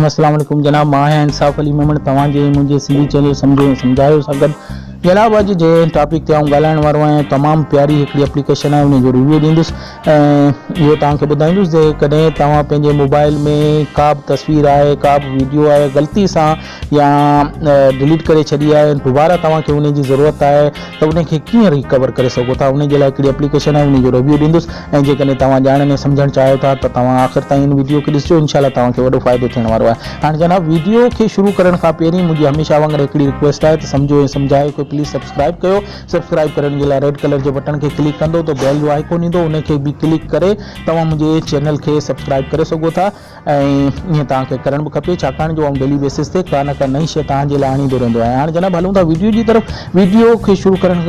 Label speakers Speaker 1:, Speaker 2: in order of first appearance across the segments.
Speaker 1: السلام عليڪم جناب مان آهيان انصاف علي ميمڻ توهان جي منهنجي سنڌي چينل سمجهو ۽ سمجهايو سان گڏ جناب اڄ جي ٽاپڪ تي آئون ڳالهائڻ وارو آهيان تمام پياري هڪڙي اپليڪيشن آهي ان جو ريويو ڏيندس ۽ اهو توهان کي ٻڌائيندس جي ڪڏهن توهان پنهنجي موبائل ۾ ڪا به تصوير آهي ڪا به ويڊيو آهي غلطي سان يا ڊليٽ ڪري ڇڏي آهي دوباره توهان کي ان جي ضرورت آهي ته ان کي ڪيئن ريڪور ڪري سگهو ٿا ان جي لاء ڪهڙي اپليڪيشن آهي ان جو ريويو ڏيندس ۽ جيڪڏهن توهان ڄاڻڻ ۽ سمجهڻ چاهيو ٿا ته توهان آخر تائين ان ويڊيو کي ڏسجو انشاء الله توهان کي وڏو فائدو ٿيڻ وارو آهي هاڻ جناب ويڊيو کي شروع ڪرڻ کان پهرين منهنجي هميشه وانگر هڪڙي رڪويسٽ آهي ته سمجهو ۽ سمجهايو کي پليز سبسڪرائب ڪيو سبسڪرائب ڪرڻ جي لاء ريڊ ڪلر جي بٽڻ کي ڪلڪ ڪندو ته بيل جو آئيڪون ايندو ان کي به ڪلڪ ڪري توهان منهنجي چينل کي سبسڪرائب ڪري سگهو ٿا. ۽ ائين توهان کي ڪرڻ به کپي ڇاڪاڻ جو آئون ڊيلي بيسس تي ڪا نه ڪا نئين شيء توهان جي لاء آڻيندو رهندو آهيان هاڻي جناب هلون ٿا ويڊيو جي طرف ويڊيو کي شروع ڪرڻ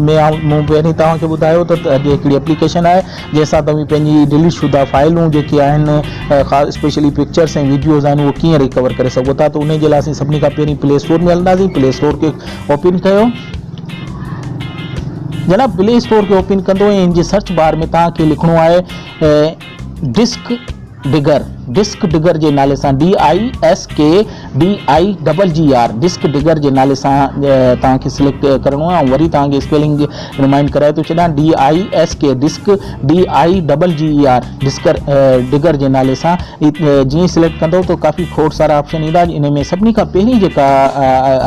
Speaker 1: ۾ آئون مون پهرين توهان کي ٻڌايو ته اڄ هڪڙي اپليڪيشن آهي جنهن سان توهين پنهنجي ڊيليٽ شده فائلون جيڪي آهن خاص اسپيشلي پڪچرس ۽ ويڊيوز آهن اهو ڪيئن ريڪور ڪري سگهو ٿا ته ان جي لاء اسين سڀني کان پهرين پلي اسٽور ۾ هلنداسين پلي اسٽور کي اوپن ڪيو جناب پلي اسٽور کي اوپن ڪندو ۽ ان جي سرچ بار ۾ توهان کي لکڻو آهي ڊسڪ ڊگر، Disk Digger، جي نالي سان، DISKDIGGER، ڊسڪ ڊگر جي نالي سان توهان کي سليڪٽ ڪرڻو آهي ۽ وري توهان کي اسپيلنگ رمائنڊ ڪرائي ٿو ڇڏيان DISK Disk DIGGER disk digger جي نالي سان جيئن ئي سليڪٽ ڪندو ته ڪافي کوڙ سارا آپشن ايندا انهي ۾ سڀني کان پهرين جيڪا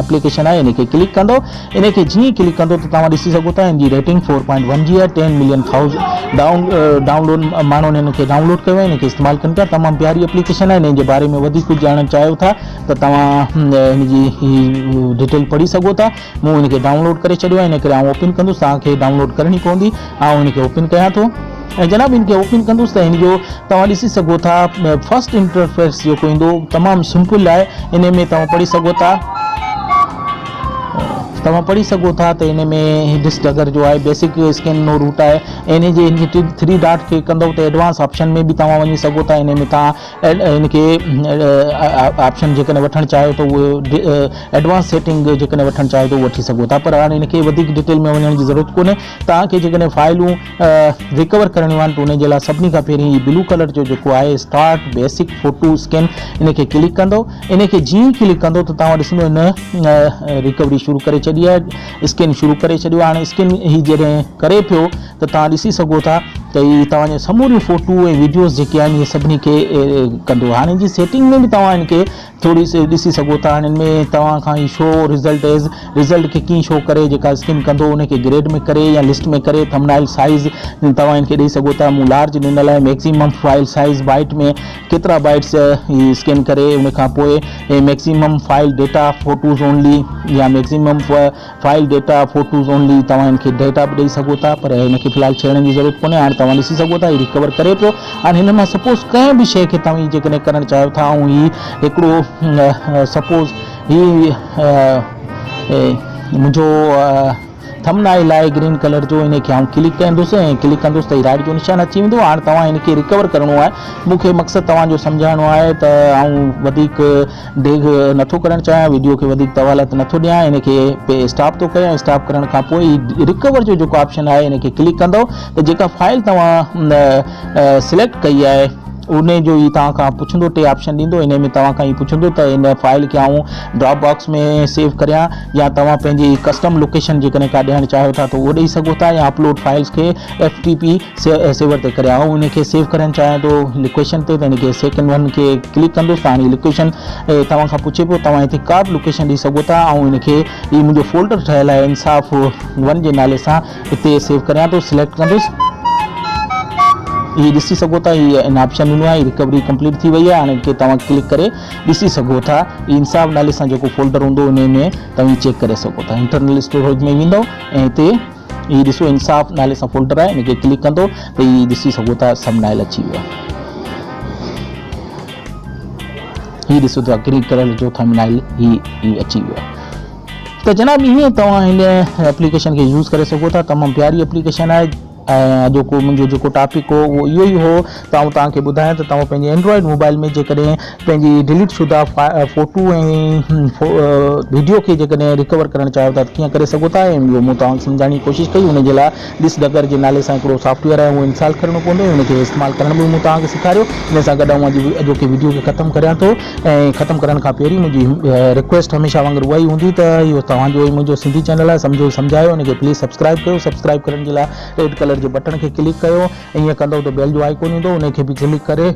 Speaker 1: اپليڪيشن آهي ان کي ڪلڪ ڪندو انهي کي جيئن ئي ڪلڪ ڪندو ته توهان ڏسي سگهو ٿا ان جي ريٽنگ فور پوائنٽ ون جي آهي ten million thousand download ماڻهن ان کي ڊائون لوڊ ڪيو آهي ان کي استعمال ڪن پيا تمام پياري اپليڪيشن آهي انهي جي باري ۾ وڌيڪ ڪجهه ڄاڻڻ چاهيو ٿا ته توهان ان جي ڊيٽيل پڙهي سگهو ٿا مون ان کي ڊائون لوڊ ڪري ڇڏيو آهي ان ڪري آئون اوپن ڪندس توهان کي ڊائون لوڊ ڪرڻي پوندي آئون ان کي اوپن ڪيان ٿو ۽ جناب ان کي اوپن ڪندس ته ان جو توهان ڏسي سگهو ٿا فرسٽ انٽرفيس جيڪو ايندو تمام سمپل آهي انهي ۾ توهان پڙهي سگهو ٿا توهان پڙهي سگهو ٿا ته ان ۾ هيڊس ڊگر جو آهي بيسڪ اسڪين نو روٽ آهي ان جي هن کي ٿري ڊاٽ کي ڪندو ته ايڊوانس آپشن ۾ به توهان وڃي سگهو ٿا ان ۾ توهان ان کي آپشن جيڪڏهن وٺڻ چاهيو ته اهي ايڊوانس سيٽنگ جيڪڏهن وٺڻ چاهيو ته وٺي سگهو ٿا پر هاڻي ان کي وڌيڪ ڊيٽيل ۾ وڃڻ جي ضرورت ڪونهي توهان کي جيڪڏهن فائلون ريڪور ڪرڻيون آهن ته ان جي لاء سڀني کان پهرين هي بلو ڪلر جو جيڪو آهي اسٽارٽ بيسڪ فوٽو اسڪين ان کي ڪلڪ ڪندو ان کي جيئن ڪلڪ ڪندو ته توهان ڏسندو ان ريڪوري شروع ڪري ڇڏي آهي اسڪين شروع ڪري ڇڏيو هاڻي اسڪين هي جڏهن ڪري پيو ته توهان ڏسي سگهو ٿا ته هي توهان جون سموريون فوٽو ۽ ويڊيوز جيڪي آهن اهي سڀني کي ڪندو هاڻي جي سيٽنگ ۾ به توهان ان کي ٿوري سي ڏسي سگهو ٿا هن ۾ توهان کان هي شو رزلٽ ايز رزلٽ کي ڪين شو ڪري جيڪا اسڪن ڪندو ان کي گريڊ ۾ ڪري يا لسٽ ۾ ڪري ٿمنائل سائيز توهان هن کي ڏئي سگهو ٿا مون لارج ڏنل آهي ميڪسيمم فائل سائيز بائيٽ ۾ ڪيترا بائيٽس هي اسڪن ڪري ان کان پوء maximum file data photos only يا maximum file data photos only توهان هن کي ڊيٽا به ڏئي سگهو ٿا پر هن کي في الحال ڇيڙڻ جي ضرورت ڪونهي هاڻ توهان ڏسي سگهو ٿا هي ريڪور ڪري پيو هاڻ هن مان سپوز ڪنهن به شيء کي توهين جيڪڏهن ڪرڻ چاهيو ٿا ۽ هي هڪڙو سپوز هي منهنجو ٿمنائل آهي گرين ڪلر جو ان کي آئون ڪلڪ ڪندس ۽ ڪلڪ ڪندس ته هي رائٽ جو نشان اچي ويندو هاڻ توهان هن کي ريڪور ڪرڻو آهي مون کي مقصد توهان جو سمجهائڻو آهي ته آئون وڌيڪ ڊيگهه نٿو ڪرڻ چاهيان ويڊيو کي وڌيڪ طوالت نٿو ڏيان ان کي پي اسٽاپ ٿو ڪريان اسٽاپ ڪرڻ کان پوء هي رڪور جو جيڪو آپشن آهي ان کي ڪلڪ ڪندو ته جيڪا فائل توهان سليڪٽ ڪئي آهي ان جو هي توهان کان پڇندو ٽي آپشن ڏيندو ان ۾ توهان کان هي پڇندو ته ان فائل کي آئون ڊراپ باڪس ۾ سيو ڪريان يا توهان پنهنجي ڪسٽم لوڪيشن جيڪڏهن ڪا ڏيڻ چاهيو ٿا ته اهو ڏيئي سگهو ٿا يا اپلوڊ فائلس کي ايف ٽي پي سيور تي ڪري آئون ان کي سيو ڪرڻ چاهيان ٿو لوڪيشن تي ته ان کي سيڪنڊ ون کي ڪلڪ ڪندس ته هاڻي لوڪيشن توهان کان پڇي پيو توهان هتي ڪا به لوڪيشن ڏئي سگهو ٿا آئون ان کي هي منهنجو فولڊر ٺهيل آهي انصاف ون جي نالي سان هتي سيو ڪريان ٿو سليڪٽ ڪندس هي ڏسي سگهو ٿا هي ان آپشن ڏنو آهي رڪوري ڪمپليٽ ٿي وئي آهي هاڻي ان کي توهان ڪلڪ ڪري ڏسي سگهو ٿا هي انصاف نالي سان جيڪو فولڊر هوندو ان ۾ توهان چيڪ ڪري سگهو ٿا انٽرنل اسٽوريج ۾ ويندو ۽ هتي هي ڏسو انصاف نالي سان فولڊر آهي ان کي ڪلڪ ڪندو ته هي ڏسي سگهو ٿا ثمبنائل اچي ويو آهي هي ڏسو ٿا گرين ڪلر جو ٿمبنائل هي هي اچي ويو آهي ته جناب ائين توهان هن اپليڪيشن کي يوز ڪري سگهو ٿا تمام پياري اپليڪيشن آهي ۽ اڄوڪو منهنجو جيڪو ٽاپڪ هو اهو اهو ئي هو ته آئون توهان کي ٻڌايان ته توهان پنهنجي اينڊرائيڊ موبائيل ۾ جيڪڏهن پنهنجي ڊليٽ شده فوٽو ۽ وڊيو کي جيڪڏهن رڪور ڪرڻ چاهيو ٿا ته ڪيئن ڪري سگهو ٿا ۽ اهو مون توهان کي سمجهائڻ جي ڪوشش ڪئي ان جي لاء ڊس ڊگر جي نالي سان هڪڙو سافٽ ويئر آهي اهو انسال ڪرڻو پوندو ۽ ان کي استعمال ڪرڻ به مون توهان کي سيکاريو ان سان گڏ آئون اڄ اڄوڪي وڊيو کي ختم ڪريان ٿو ۽ ختم ڪرڻ کان پهرين منهنجي رڪويسٽ هميشه وانگر اها ئي هوندي ته اهو توهان جو ۽ منهنجو سنڌي چينل آهي سمجهو سمجهايو ان کي پليز سبسڪرائيب ڪيو سبسڪرائيب ڪرڻ جي لاء ريڊ ڪلر جي بٽڻ کي ڪلڪ ڪيو ائين ڪندؤ ته بيل جو آئيڪون ايندو انهي کي به ڪلڪ ڪري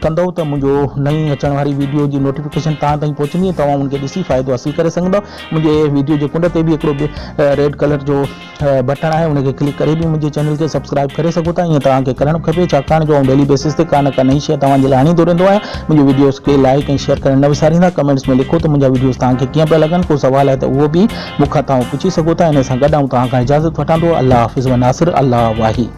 Speaker 1: ڪندؤ ته منهنجو نئين اچڻ واري ويڊيو جي نوٽيفڪيشن توهان تائين پهچندي ۽ توهان ان کي ڏسي فائدو حاصل ڪري سگهندؤ منهنجي ويڊيو جي ڪنڊ تي به هڪڙو ريڊ ڪلر جو بٽڻ آهي ان کي ڪلڪ ڪري به منهنجي چينل کي سبسڪرائب ڪري سگهو ٿا ائين توهان کي ڪرڻ کپي ڇاڪاڻ جو آئون ڊيلي بيسس تي ڪا نه ڪا نئين شيء توهان جي لاء آڻيندو رهندو آهيان منهنجي ويڊيوز کي لائيڪ ۽ شيئر ڪرڻ نه وساريندا ڪمينٽس ۾ لکو ته منهنجا ويڊيوز توهان کي ڪيئن پيا لڳن ڪو سوال آهي ته اهو به مون کان توهان پڇي سگهو ٿا انهي سان گڏ آئون توهان کان اجازت وٺان ٿو الله حافظ وناصر الله واهي.